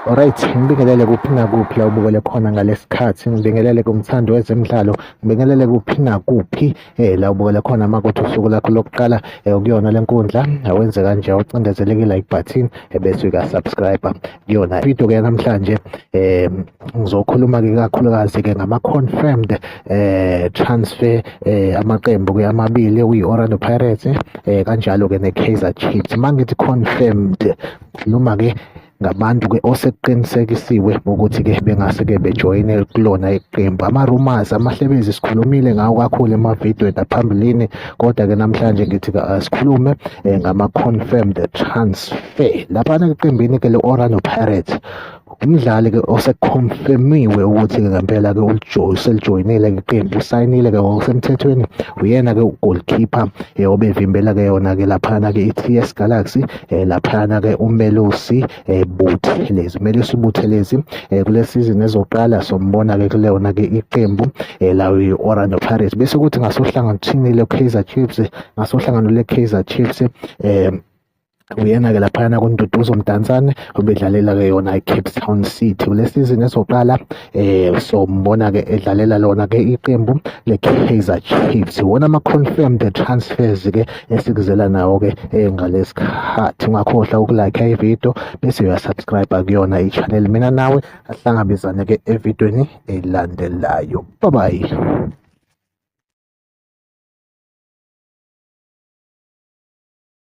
Alright, ngibingelele kuphi nakuphi la ubukele khona ngalesikhathi, ngibingelele kumthandi wezemidlalo, ngibingelele kuphi nakuphi eh la ubukele khona makuthi usuku lakho lokuqala eh kuyona lenkundla, awenze kanje ucindezeleke like button eh, bese uyaka subscribe kuyona video ke namhlanje eh Ngizokhuluma-ke ikakhulukazi-ke ngama-confirmed eh transfer eh amaqembu-ke amabili okuyi-Orlando Pirates eh kanjalo-ke ne-Kaizer Chiefs. Uma ngithi confirmed ngikhuluma-ke ngabantu-ke osekuqinisekisiwe ukuthi-ke bengase-ke bejoyine kulona iqembu. Ama-rumours amahlebezi sikhulumile ngawo kakhulu emavidweni aphambilini kodwa-ke namhlanje ngithi-ke asikhulume eh, ngama-confirmed transfer. Laphana eqembini-ke le-Orlando Pirates Umdlali ke osekhonfemiwe ukuthi-ke ngempela-ke uselijoyinile ke qembu usayinile-ke ngokusemthethweni uyena-ke ugolkhipha um eh, obevimbela-ke yona-ke laphana-ke i-T S Galaxy um laphana-ke uMelusi um Buthelezi. UMelusi Buthelezi um kule sizini ezoqala sombona-ke kuleyona-ke iqembu um lawo i-Orlando Pirates bese kuthi ngasohlangothini le-Kaizer Chiefs ngasohlangano le-Kaizer Chiefs um Uyena-ke laphayana kuNduduzo Mdantsane obedlalela-ke yona i-Cape Town City kule sizini ezoqala um sombona-ke edlalela lona-ke iqembu le-Kaizer Chiefs wona ama-confirmed transfers-ke esikuzela nawo-ke eh, ngalesi khathi ungakhohlwa ukulike ividiyo bese uyasubscribe kuyona i-channel mina nawe ahlangabezane-ke evidweni elandelayo babayi